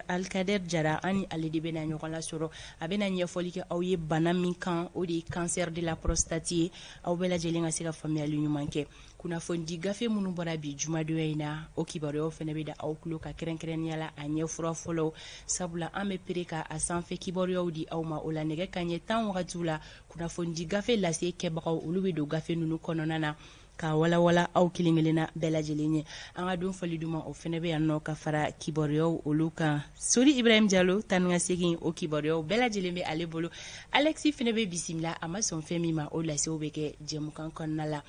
Alikadɛri jara an ni ale de bɛna ɲɔgɔn lasɔrɔ a bɛna ɲɛfɔli kɛ aw ye bana min kan o de ye cancer de la prostate ye aw bɛɛ lajɛlen ka se ka faamuyali ɲuman kɛ kunnafonidi gafe minnu bɔra bi jumadonya in na o kibaruyaw fana bɛ da aw tulo kan kɛrɛnkɛrɛnnenya la a ɲɛ fura fɔlɔ sabula an bɛ pere ka a sanfɛ kibaruyaw di aw ma o la nɛgɛ kanɲɛ tan wagatiw la kunnafonidi gafe lase kɛbagaw olu bɛ don gafe ninnu kɔnɔna na k'a walawala aw kelen kelenna bɛɛ lajɛlen ye an ka don fɔli duman o fana bɛ yan nɔ ka fara kibaruyaw olu kan sori ibrahim jalo taa ni ka segin o kibaruyaw bɛɛ lajɛlen bɛ ale bolo alexi fana bɛ bisimila a ma sɔn fɛn min ma o lasew bɛ kɛ jɛmukan kɔnɔna la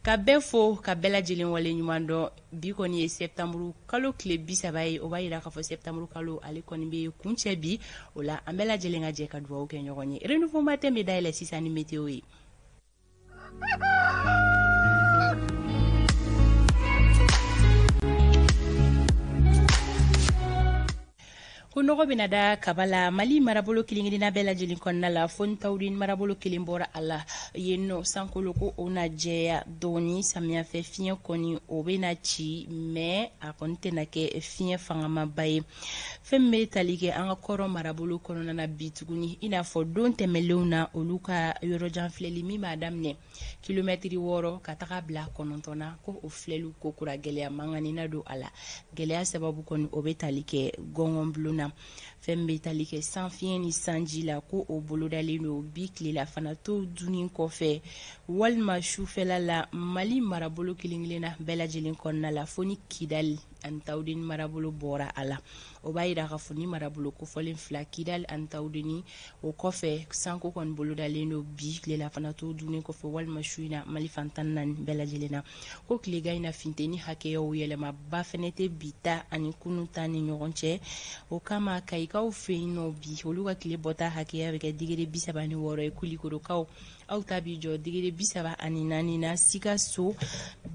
ka bɛɛ fo ka bɛɛ lajɛlen waleɲumandɔn bi kɔni ye sɛbtanburu kalo tile bi saba ye o b'a jira k'a fɔ sɛbtanburu kalo ale kɔni bɛ kuncɛ bi o la an bɛɛ lajɛlen ka jɛ ka dugawu kɛ ɲɔgɔn ye renouveau matin bɛ dayɛlɛ sisan ni meteyo ye ko nɔgɔ bɛna da kaba la mali marabolo kelenkelenna bɛɛ lajɛlen kɔnɔna la fo ni tawudeni marabolo kelen bɔra a la yen nɔ sankolo ko o na jɛya dɔɔni samiyafɛ fiɲɛ kɔni o bɛna ci mɛ a kɔni tɛna kɛ fiɲɛ fangamaba ye fɛn min bɛ tali kɛ an ka kɔrɔn marabolo kɔnɔna na bi tuguni i n'a fɔ don tɛmɛnlenw na olu ka yɔrɔjan filɛli min b'a daminɛ kilomɛtiri wɔɔrɔ ka taga bila kɔnɔntɔn na ko o filɛli kokura gɛlɛya mankanina don a la gɛlɛya sababu kɔni o bɛ tali kɛ gɔngɔnbulon na fɛn min bɛ tali kɛ san fiɲɛ ni sanji la ko o bolodalen don bi tilelafana to dunni kɔfɛ walima sufɛla la mali marabolo kelen-kelenna bɛɛ lajɛlen kɔnɔna la fo ni kidali ani tawudeni marabolo bɔra a la o b'a jira k'a fɔ ni marabolo kofɔlen fila kidali ani tawudeni o kɔfɛ sanko kɔni bolodalen don bi tilelafana to dunni kɔfɛ walima su in na mali fan tan ni naani bɛɛ lajɛlen na ko tilegan in na funteni hakɛya yɛlɛmaba fana tɛ bi ta ani kunun ta ni ɲɔgɔn cɛ o kama kayikaw fɛ yen nɔ bi olu ka tile bɔta hakɛya bɛ kɛ degere bisaba ni wɔɔrɔ ye kulikorokaw aw ta b'i jɔ degere bi saba ani naani na sikaso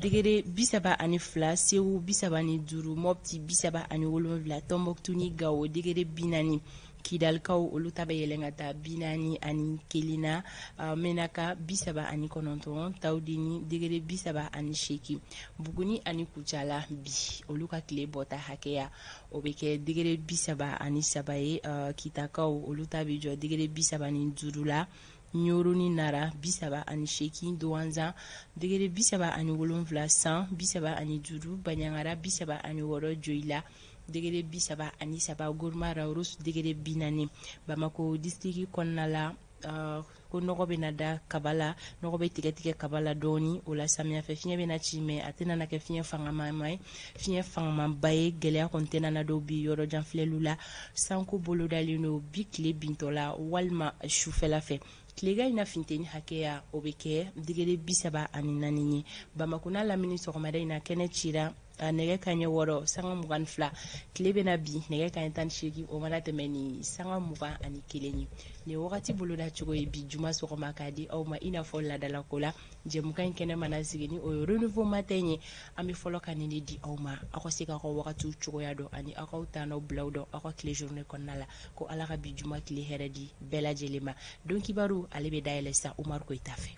degere bi saba ani fila sewu bi saba ni duuru mɔpti bi saba ani wolonwula tɔnbɔkutu ni gawo degere bi naani kidalikaw olu ta bɛ yɛlɛn ka taa bi naani ani kelen na uh, menaka bi saba ani kɔnɔntɔn tawudeni degere bi saba ani seegin buguni ani kucala bi olu ka tile bɔta hakɛya o bɛ kɛ degere bi saba ani saba ye uh, kitakaw olu ta b'i jɔ degere bi saba ni duuru la ɲɔrɔ ni nara bisaba ani seegin duwanza degere bisaba ani wolonfila san bisaba ani duuru baɲangara bisaba ani wɔɔrɔ joyila degere bisaba ani saba guruma rarusi degere bi naani bamako disitiriki kɔnɔna la uh, ko nɔgɔ bɛna da kaba la nɔgɔ bɛ tigɛtigɛ kaba la dɔɔni o la samiyafɛ fiɲɛ bɛna ci mɛ a tɛna na kɛ fiɲɛ fangamaba ye fiɲɛ fangamanba ye gɛlɛya kɔni tɛna na don bi yɔrɔ jan filɛliw la sanko bolodalen don bi tile bintɔ la walima sufɛla fɛ tilegan in na funteni hakɛya o bɛ kɛ degere bi saba ani naani ye bamakɔ n'a lamini sɔgɔmada in na kɛnɛ cira a nɛgɛ kaɲɛ wɔɔrɔ sanga mugan fila tile bɛna bin nɛgɛ kaɲɛ tan ni seegin o mana tɛmɛ ni sanga mugan ani kelen ye nin wagati boloda cogo ye bi juma sɔgɔma k'a di aw ma i n'a fɔ laadalako la jɛmukan in kɛnɛ mana sigi ni o ye renouveau matin ye an bɛ fɔlɔ ka nin de di aw ma aw ka se k'aw ka wagatiw cogoya dɔn ani aw k'aw ta n'aw bilaw dɔn aw ka tile journée kɔnɔna la ko ala ka bi juma tile hɛrɛ di bɛɛ lajɛlen ma don kibaru ale bɛ dayɛlɛ sa Umaru Koyita fɛ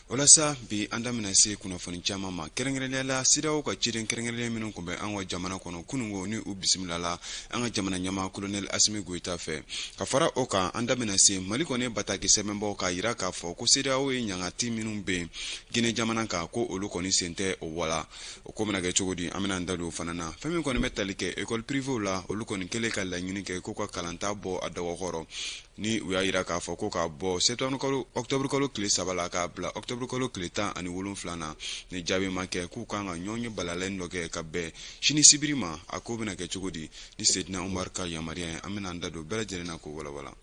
walasa bi an da bɛna se kunnafoni caman ma kɛrɛnkɛrɛnnenya la CEDEAO ka ciden kɛrɛnkɛrɛnnen minnu tun bɛ an ka jamana kɔnɔ kunungo ni u bisimilala an ka jamana ɲɛmaa kolonɛli asimi goyita fɛ ka fara o kan an da bɛna se mali kɔni ye bataki sɛbɛn bɔ k'a yira k'a fɔ ko CEDEAO ye ɲangati minnu bin gine jamana kan ko olu kɔni sen tɛ o wala o ko bɛna kɛ cogo di an bɛna an da don o fana na fɛn min kɔni bɛ tali kɛ ekɔli pirivew la olu kɔni kɛlen ka laɲini kɛ ko ka kalanta bɔ a dɔgɔkɔrɔ ni u y'a yira k'a fɔ ko ka bɔ sɛtanburukalo ɔkutɔburukalo tile saba la k'a bila ɔkutɔburukalo tile tan ani wolonfila na ni jaabi ma kɛ k'u kan ka ɲɔgɔnye balalen dɔ kɛ ka bɛn sini sibiri ma a ko bɛna kɛ cogo di ni sedina umaru ka yamaruya ye an bɛna an da don bɛɛ lajɛlen na k'o walawala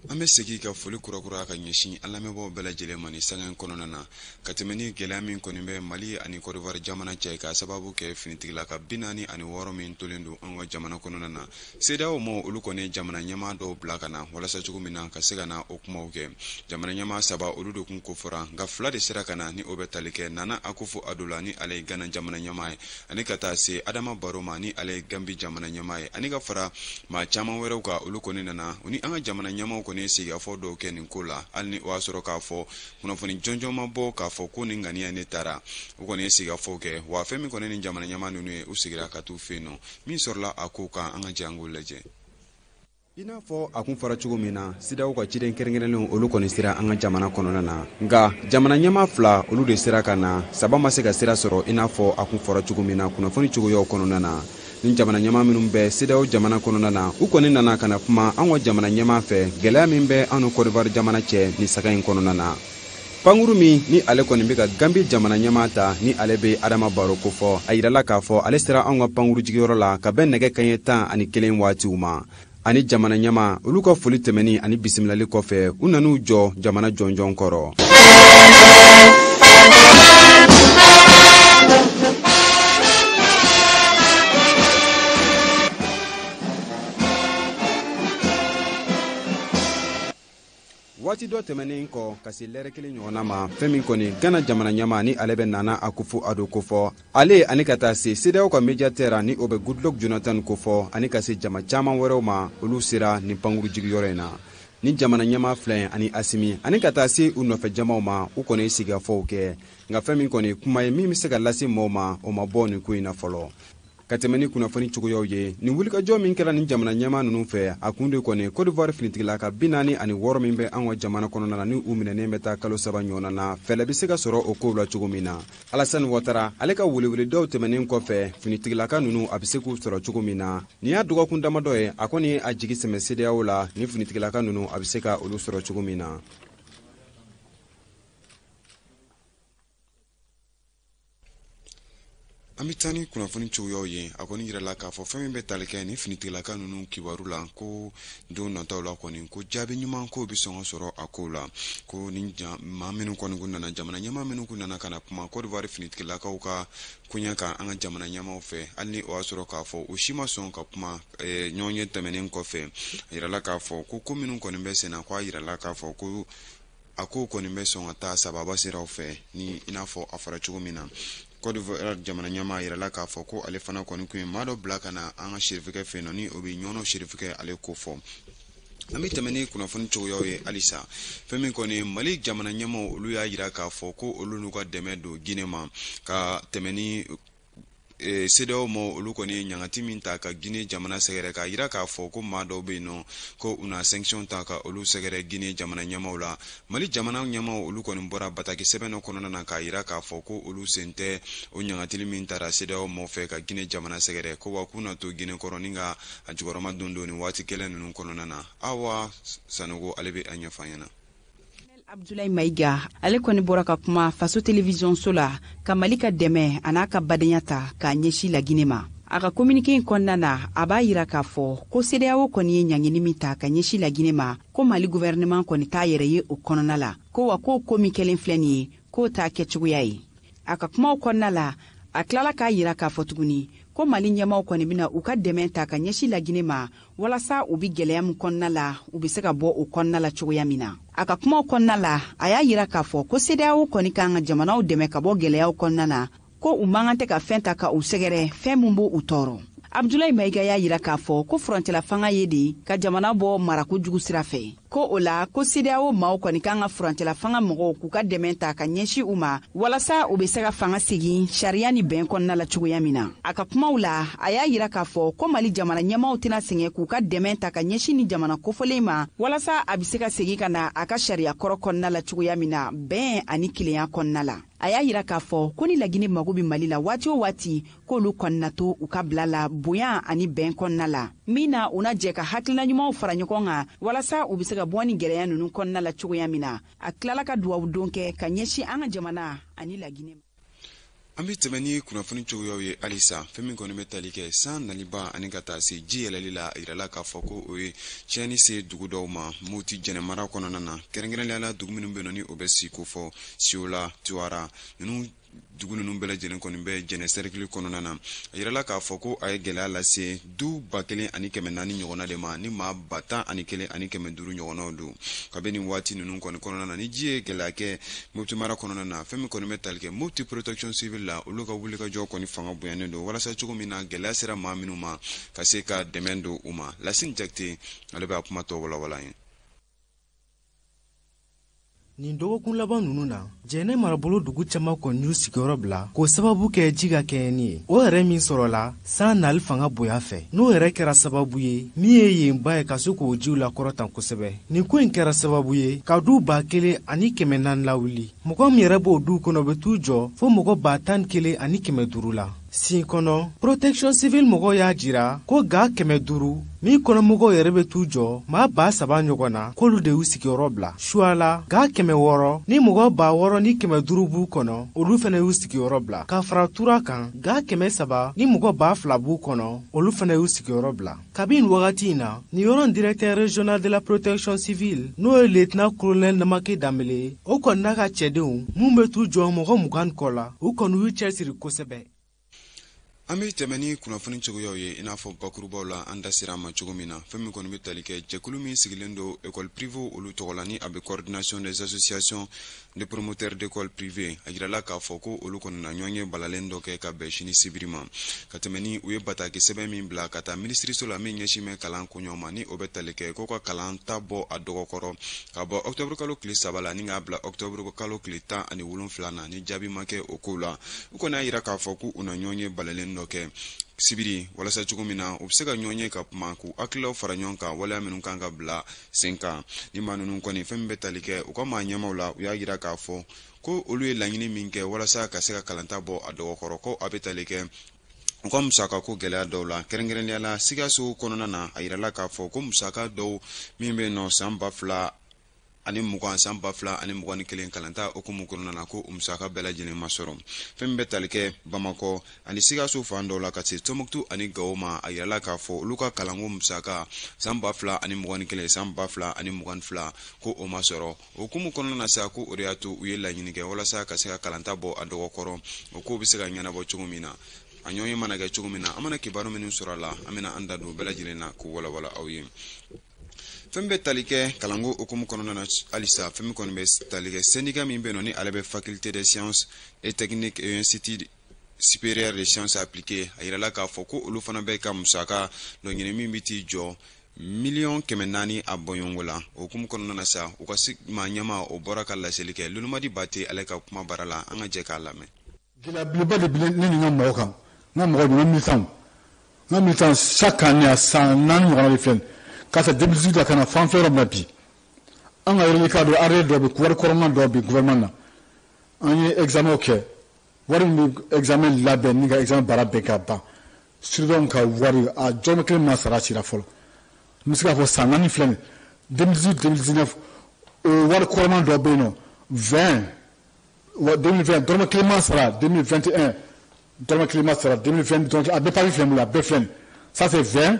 an bɛ segin ka foli kurakura ka ɲɛsin an lamɛnbaaw bɛɛ lajɛlen ma nin sanga in kɔnɔna na ka tɛmɛ ni gɛlɛya min kɔni bɛ mali ani kɔdiwari jamana cɛ k'a sababu kɛ finitigilaka bi naani ani wɔɔrɔ min tolen don an ka jamana kɔnɔna na CEDEAO maaw olu kɔni jamana ɲɛmaa dɔw bila ka na walasa cogo min na ka se ka na o kumaw kɛ jamana ɲɛmaa saba olu de kun kofɔra nka fila de sera ka na ni o bɛ tali kɛ nana akufo ado la ni ale ye gana jamana ɲɛmaa ye ani ka taa se adama baro ma ni ale ye gambi jamana ɲɛmaa ye ani ka fara maa caman wɛrɛw kan olu kɔni nana u ni an ka jamana ɲɛmaaw kɔni ye sigikafɔ dɔw kɛ nin ko la hali ni o y'a sɔrɔ k'a fɔ kunnafoni jɔnjɔn ma bɔ k'a fɔ ko nin ŋaniya ne tara u kɔni ye sigikafɔw kɛ wa fɛn min kɔni nin jamana ɲɛmaa ninnu ye u segira ka t'u fɛ yen nɔ min sɔrɔla a kow kan an ka jɛ an k'o lajɛ i n'a fɔ a kun fɔra cogo min na CEDEAO ka ciden kɛrɛnkɛrɛnlenw olu kɔni sera an ka jamana kɔnɔna na nka jamana ɲɛma fila olu de sera ka na saba ma se ka sira sɔrɔ i n'a fɔ a kun fɔra cogo min na kunnafoni cogoyaw kɔnɔna na ni jamana ɲɛma minnu bɛ CEDEAO jamana kɔnɔna na u kɔni nana ka na kuma an ka jamana ɲɛma fɛ gɛlɛya min bɛ an ni kɔdiwari jamana cɛ nin sanga in kɔnɔna na pankuru min ni ale kɔni bɛ ka gambi jamana ɲɛmaa ta ni ale bɛ adama baro kofɔ a yirala k'a fɔ ale sera anw ka pankuru jigiyɔrɔ la ka bɛn nɛgɛ kaɲɛ tan ani kelen waatiw ma ani jamana ɲɛmaa olu ka foli tɛmɛni ani bisimilali kɔfɛ u nan'u jɔ jamana jɔnjɔn kɔrɔ waati dɔ tɛmɛnen kɔ ka se lɛrɛ kelen ɲɔgɔnna ma fɛn min kɔni gana jamana ɲɛmaa ni ale bɛ nana akufu ado kofɔ ale ani ka taa se sedeyaw ka mediatɛra ni o bɛ goodluck jonathan kofɔ ani ka se jama caman wɛrɛw ma olu sera nin pankuru jigiyɔrɔ in na ni jamana ɲɛmaa fila ani asimi ani ka taa se u nɔfɛ jamaw ma u kɔni ye sigikafɔw kɛ nka fɛn min kɔni kuma ye min bɛ se ka lase mɔɔw ma o ma bɔ nin ko in na fɔlɔ ka tɛmɛ ni kunnafoni cogoyaw ye nin wulikajɔ min kɛra nin jamana ɲɛmaa ninnu fɛ a kun de kɔni cote d'ivoire finitigilaka bi naani ani wɔɔrɔ min bɛ an ka jamana kɔnɔna na ni u minɛnen bɛ taa kalo saba ɲɔgɔnna na fɛɛlɛ bɛ se ka sɔrɔ o kow la cogo min na alasani watara ale ka weleweledaw tɛmɛnen kɔfɛ finitigilaka ninnu a bɛ se k'u sɔrɔ cogo min na nin y'a dɔgɔkun damadɔ ye a kɔni a jigi sɛmɛ sedeyaw la ni finitigilaka ninnu a bɛ se ka olu sɔrɔ cogo min na an bɛ taa ni kunnafoni cogoyaw ye a kɔni yirala k'a fɔ fɛn min bɛ tali kɛ ni finitigilaka ninnu kibaru la ko don nataw la kɔni ko jaabi ɲuman ko bɛ sɔn ka sɔrɔ a kow la ko ni maa minnu kɔni kun nana jamana ɲɛmaa minnu kun nana ka na kuma cote d'ivoire finitigilakaw ka koɲɛ kan an ka jamana ɲɛmaaw fɛ hali ni o y'a sɔrɔ k'a fɔ u si ma sɔn ka kuma ɲɔgɔn ye tɛmɛnen kɔfɛ a yirala k'a fɔ ko ko minnu kɔni bɛ senna ko a yirala k'a fɔ ko a ko kɔni bɛ sɔn ka taa sababa siraw fɛ ni i n'a fɔ a fɔra cogo min na Cote d'Ivoire jamana ɲɛmaa a yirala k'a fɔ ko ale fana kɔni kun ye maa dɔ bila ka na an ka serifikɛ fɛ yen nɔ ni o bɛ ɲɔnɔ serifikɛ ale kofɔ an bɛ tɛmɛ ni kunnafoni cogoyaw ye halisa fɛn min kɔni mali jamana ɲɛmaaw olu y'a yira k'a fɔ ko olu n'u ka dɛmɛ don gine ma ka tɛmɛ ni sedeyaw maa olu kɔni ye ɲangati min ta ka gine jamana sɛgɛrɛ k'a yira k'a fɔ ko maa dɔw bɛ yen nɔ ko u na sankisiyɔn ta ka olu sɛgɛrɛ gine jamana ɲɛmaaw la mali jamana ɲɛmaaw olu kɔni bɔra bataki sɛbɛn dɔ kɔnɔna na k'a yira k'a fɔ ko olu sen tɛ o ɲangatili min tara sedeyaw maa fɛ ka gine jamana sɛgɛrɛ ko wa k'u na to gine kɔrɔ ni ka a jukɔrɔma dondon nin waati gɛlɛn ninnu kɔnɔna na awa sanogo ale bɛ a ɲɛfɔ an ɲɛna abdulayi mayiga ale kɔni bɔra ka kuma faso televiziyɔnso la ka mali ka dɛmɛ an'a ka badenya ta k'a ɲɛsi lagine ma a ka kominike in kɔnɔna na a b'a yira k'a fɔ ko sedeyawo kɔni ye ɲangini min ta ka ɲɛsi lagine ma ko mali guvɛrɛnɛman kɔni t'a yɛrɛ ye o kɔnɔna la ko wa k'o ko min kɛlen filɛ nin ye k'o t'a kɛcogoya ye a ka kumaw kɔnɔna la a tilala k'a yira k'a fɔ tuguni ko mali ɲɛmaaw kɔni bɛna u ka dɛmɛ ta ka ɲɛsi lagine ma walasa u bi gwɛlɛya min kɔnɔna la u be se ka bɔ o kɔnɔna la cogoya min na a ka kumaw kɔnɔna la a y'a yira k'a fɔ ko sedeyawo kɔni kan ka jamanaw dɛmɛ ka bɔ gwɛlɛyaw kɔnɔna na ko u man kan tɛ ka fɛn ta ka u sɛgɛrɛ fɛn min b' u tɔɔrɔ abudulayi mayiga y'a yira k'a fɔ ko furancɛlafanga ye de ka jamana bɔ marako jugu sira fɛ ko o la ko CEDEAO maaw kɔni kan ka furancɛlafanga mɔgɔw k'u ka dɛmɛ ta ka ɲɛsin u ma walasa u bɛ se ka fanga segin sariya ni bɛn kɔnɔna la cogoya min na a ka kumaw la a y'a yira k'a fɔ ko mali jamana ɲɛmaaw tɛna sɛgɛn k'u ka dɛmɛ ta ka ɲɛsin ni jamana kofɔlen ma walasa a bɛ se ka segin ka na a ka sariya kɔrɔ kɔnɔna la cogoya min na bɛn ani kelenya kɔnɔna la a y'a yira k'a fɔ ko ni lagine mago bɛ mali la waati o waati k'olu kɔni na to u ka bila la bonya ani bɛn kɔnɔna la min na u na jɛ ka hakilina ɲumanw fara ɲɔgɔn kan walasa u bɛ se ka bɔ ni gɛlɛya ninnu kɔnɔna la cogoya min na a tilala ka duwawu don kɛ ka ɲɛsin an ka jamana ani laginɛ ma an bɛ tɛmɛ ni kunnafoni cogoyaw ye halisa fɛn min kɔni bɛ tali kɛ san naliba ani ka taa se ji yɛlɛli la a yirala k'a fɔ ko o ye tiɲɛni se dugu dɔw ma moti jɛnɛ mara kɔnɔna na kɛrɛnkɛrɛnlenya la dugu minnu bɛ yen ni o bɛ sin kofɔ siola tuwara ninnu dugu ninnu bɛɛ lajɛlen kɔni bɛ jɛnɛ sɛrikili kɔnɔna na a yirala k'a fɔ ko a ye gɛlɛya lase du ba kelen ani kɛmɛ naani ɲɔgɔnna de ma ni maa ba tan ani kelen ani kɛmɛ duuru ɲɔgɔnnaw don kabini waati ninnu kɔni kɔnɔna na ni ji ye gɛlɛya kɛ mopti mara kɔnɔna na fɛn min kɔni bɛ tali kɛ mopti protection civil la olu ka wulikajɔ kɔni fanga bonyanen don walasa cogo min na gɛlɛya sera maa minnu ma ka se ka dɛmɛ don u ma lasini jakite ale bɛ a kuma tɔ walawala ye nin dɔgɔkun laban ninnu na jɛnɛ marabolo dugu caman kɔni y'u sigiyɔrɔ bila k'o sababu kɛ ji ka kɛɲɛni ye o yɛrɛ min sɔrɔla san nali fanga bonya fɛ n'o yɛrɛ kɛra sababu ye min ye yen ba ye ka se k'o jiw lakɔrɔta kosɛbɛ nin ko in kɛra sababu ye ka du ba kelen ani kɛmɛ naani lawuli mɔgɔ min yɛrɛ b'o duw kɔnɔ bɛ t'u jɔ fo mɔgɔ ba tan ni kelen ani kɛmɛ duuru la sin kɔnɔ protection civil mɔgɔw y'a jira ko ga kɛmɛ duuru min kɔnɔmɔgɔw yɛrɛ bɛ t'u jɔ maa ba saba ɲɔgɔn na k'olu de y'u sigiyɔrɔ bila suwala ga kɛmɛ wɔɔrɔ ni mɔgɔ ba wɔɔrɔ ni kɛmɛ duuru b'u kɔnɔ olu fana y'u sigiyɔrɔ bila ka fara tura kan ga kɛmɛ saba ni mɔgɔ ba fila b'u kɔnɔ olu fana y'u sigiyɔrɔ bila kabini wagati in na nin yɔrɔ directeur régional de la protection civile n'o ye lieutenant colonel namaki danbele o kɔni n'a ka cɛdenw minnu bɛ t'u jɔ mɔgɔ mugan kɔ la u kɔni y'u cɛsiri kosɛbɛ an bɛ tɛmɛ ni kunnafoni cogoyaw ye i n'a fɔ bakurubaw la an da sera a ma cogo min na fɛn min kɔni bɛ tali kɛ jɛkulu min sigilen don école privée olu tɔgɔ la ni a bɛ coordination des associations de promoteurs d'école privée a yirala k'a fɔ ko olu kɔni na ɲɔgɔnye balalen dɔ kɛ ka bɛn sini sibiri ma ka tɛmɛ ni u ye bataki sɛbɛn min bila ka taa minisiriso la min ɲɛsin bɛ kalan koɲɛw ma ni o bɛ tali kɛ ko ka kalanta bɔ a dɔgɔkɔrɔ ka bɔ octobre kalo tile saba la ni k'a bila octobre kalo tile tan ani wolonfila na ni jaabi ma kɛ o kow la u kɔni y'a yira k'a fɔ ko u na ɲɔgɔnye balalen dɔ kɛ sibiri walasa cogo min na u bɛ se ka ɲɔgɔn ye ka kuma k'u hakililaw fara ɲɔgɔn kan waleya minnu kan ka bila sen kan ni maa ninnu kɔni fɛn min bɛ tali kɛ u ka maa ɲɛmaw la u y'a yira k'a fɔ ko olu ye laɲini min kɛ walasa ka se ka kalanta bɔ a dɔgɔkɔrɔ ko a bɛ tali kɛ u ka musaka ko gɛlɛya dɔw la kɛrɛnkɛrɛnnenya la sikaso kɔnɔna na a yirala k'a fɔ ko musaka dɔw min bɛ yen nɔ san ba fila ani mugan san ba fila ani mugan ni kelen kalanta hukumu kɔnɔna na ko o musaka bɛɛ lajɛlen ma sɔrɔ fɛn min bɛ tali kɛ bamakɔ ani sikaso fan dɔw la ka se tɔnbukutu ani gawo ma a yirala k'a fɔ olu ka kalanko musaka san ba fila ani mugan ni kelen san ba fila ani mugan ni fila ko o ma sɔrɔ o hukumu kɔnɔna na sa ko o de y'a to u ye laɲini kɛ walasa ka se ka kalanta bɔ a dɔgɔkɔrɔ o kow bɛ se ka ɲɛnabɔ cogo min na a ɲɔgɔnye mana kɛ cogo min na an mana kibaru minnu sɔrɔ a la an bɛna an da don bɛɛ lajɛlen na k'u walawala aw ye fɛn bɛ tali kɛ kalanko hukumu kɔnɔna na halisa fɛn min kɔni bɛ tali kɛ sɛndika min bɛ yen nɔ ni ale bɛ faculté des sciences et techniques et institut supérieur des sciences appliquées a yirala k'a fɔ ko olu fana bɛ ka musaka dɔ ɲini min bɛ t'i jɔ miliyɔn kɛmɛ naani a bɔɲɔgɔnko la o hukumu kɔnɔna na sa u ka maa ɲɛma o bɔra ka laseli kɛ lolomadi bate ale ka kuma bara la an ka jɛ k'a lamɛn gɛlɛyabeleba de bɛ ne ni n ka mɔgɔw kan n ka mɔgɔ don n ka militanw n ka militanw chaque année a san naani ɲɔgɔnna de filɛ k'a ta 2018 la ka na fan fɛ yɔrɔ min na bi an ka reliquat dɔ arriéré dɔ bɛ wari kɔrɔman dɔ bɛ gouvernement na an ye examen kɛ wari min bɛ examen labɛn ni ka examen baara bɛɛ ka ban surveillant ka wari a dɔrɔmɛ kelen ma sara sira fɔlɔ n bɛ se k'a fɔ san naani filɛ nin 2018 2019 o wari kɔrɔman dɔ bɛ yen nɔ 2020 dɔrɔmɛ kelen ma sara 2021 dɔrɔmɛ kelen ma sara 2022 donc a bɛɛ papiye filɛ n bolo a bɛɛ filɛ nin ça c'est 20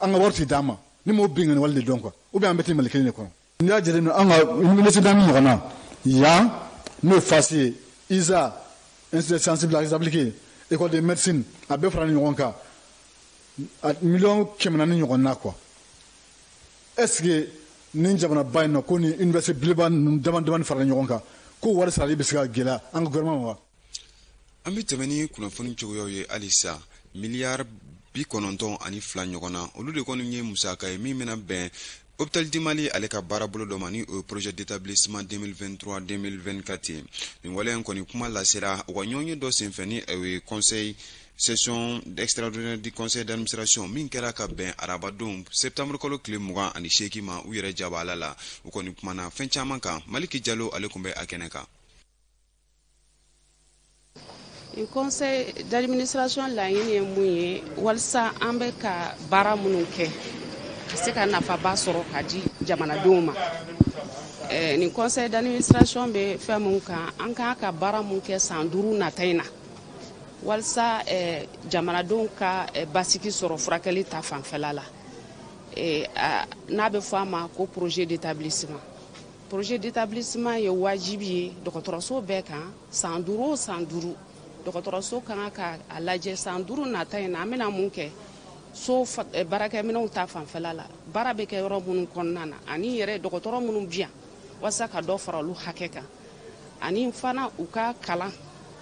an ka wari tɛ d'an ma ni mɔgɔ bin wale de don quoi ou bien an bɛɛ tɛ mali kelen de kɔnɔ n'i y'a jate an ka université min ɲɔgɔn na yan n'o ye fasi ye iza institut des sciences appliquées école de médecine a bɛɛ faralen ɲɔgɔn kan miliyɔn kɛmɛ naani ɲɔgɔnna quoi est-ce que ni jamanaba in na ko ni université belebeleba ninnu damadamani farala ɲɔgɔn kan ko wari sarali bɛ se ka gɛlɛya an ka gouvernement wa an bɛ tɛmɛ ni kunnafoni cogoyaw ye halisa miliyari bi kɔnɔntɔn ani fila ɲɔgɔn na olu de kɔni ye musaka ye min bɛna bɛn hôpital du mali ale ka baarabolo dɔ ma ni o ye projet d'établissement 2023 2024 ye nin waleya in kɔni kuma lasera u ka ɲɔgɔnye dɔ senfɛ ni o ye conseil session extraordinaire du conseil d'administration min kɛra ka bɛn arabadon septembre kalo tile mugan ani seegin ma u yɛrɛ jabala la u kɔni kumana fɛn caman kan maliki jalo ale kun bɛ a kɛnɛ kan nin conseil d'administration laɲini ye mun ye walisa an bɛ ka baara minnu kɛ ka se ka nafaba sɔrɔ ka di jamanadenw ma eh, nin conseil d'administration bɛ fɛn min kan an kan ka baara min kɛ san duuru nata in na walisa eh, jamanadenw ka eh, basigi sɔrɔ furakɛli ta fanfɛla la n'a bɛ fɔ a ma ko projet d'établissement projet d'établissement ye wajibi ye dɔgɔtɔrɔso bɛɛ kan san duuru o san duuru dɔgɔtɔrɔso ka kan ka a lajɛ san duuru nata in na an bɛna mun kɛ so eh, baarakɛminɛnw ta fanfɛla la baara bɛ kɛ yɔrɔ minnu kɔnɔna na ani yɛrɛ dɔgɔtɔrɔ minnu bi yan walasa ka dɔ fara olu hakɛ kan ani fana u ka kalan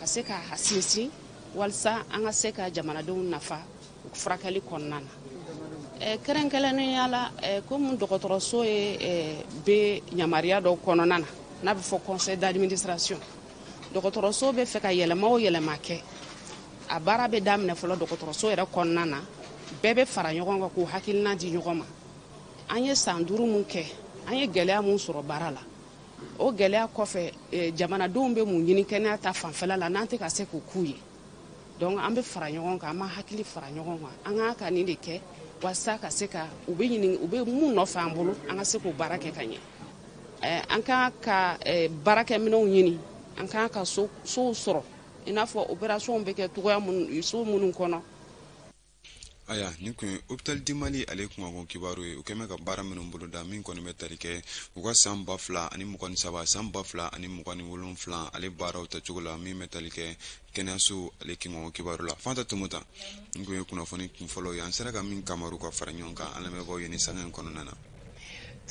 ka se ka sinsin walasa an ka se ka jamanadenw nafa furakɛli kɔnɔna na eh, kɛrɛnkɛrɛnnenya la eh, komi dɔgɔtɔrɔso ye eh, bɛ yamaruya dɔ kɔnɔna na n'a bɛ fɔ conseil d'administration dɔgɔtɔrɔso bɛ fɛ ka yɛlɛma o yɛlɛma kɛ a baara bɛ daminɛ fɔlɔ dɔgɔtɔrɔso yɛrɛ kɔnɔna na bɛɛ bɛ fara ɲɔgɔn kan k'u hakilina di ɲɔgɔn ma an ye san duuru mun kɛ an ye gɛlɛya mun sɔrɔ baara la o gɛlɛya kɔfɛ jamanadenw bɛ mun ɲini kɛnɛya ta fanfɛla la n'an tɛ ka se k'o k'u ye donc an bɛ fara ɲɔgɔn kan an b'an hakili fara ɲɔgɔn kan an kan ka nin de kɛ walasa ka se ka u bɛ u bɛ mun nɔfɛ an bolo an ka se k'o baara kɛ ka ɲɛ an kan ka baarakɛminɛnw ɲini an kan ka sow sɔrɔ i n'a fɔ opération bɛ kɛ cogoya so minnu kɔnɔ ayiwa nin kun ye hôpital du mali ale kunkanko kibaru ye u kun bɛ ka baara minnu boloda min kɔni bɛ tali kɛ u ka san ba fila ani mugan ni saba san ba fila ani mugan ni wolonwula ale baaraw tacogo la min bɛ tali kɛ kɛnɛyaso ale kunkanko kibaru la fanta tumuta nin kun ye kunnafoni kunfɔlɔ ye an sera ka min kamaru ka fara ɲɔgɔn kan an lamɛnbaaw ye nin sanga in kɔnɔna na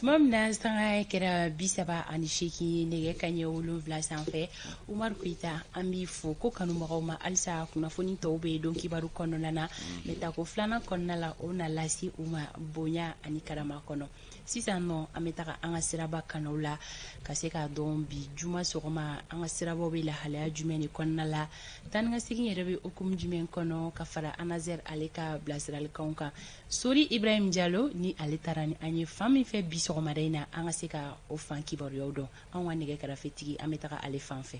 tuma min na sanga kɛra bi saba ani seegin nɛgɛ kanɲɛ wolonwula sanfɛ umaru keyita an b'i fo ko kanubagaw ma halisa kunnafoni tɔw bɛ don kibaru kɔnɔna na mais tako filanan kɔnɔna la o na lase u ma bonya ani karama kɔnɔ sisan nɔ an bɛ taga an ka siraba kanaw la ka se k'a dɔn bi juma sɔgɔma an ka sirabaw bɛ lahalaya jumɛn de kɔnɔna la taa ni ka segin yɛrɛ bɛ hukumu jumɛn kɔnɔ ka fara anaser ale ka bilasiralikan kan sori ibrahim jalo ni ale taara ni an ye fan min fɛ bi sɔgɔmada in na an ka se ka o fan kibaruyaw dɔn anw ka nɛgɛ karafetigi an bɛ taga ale fan fɛ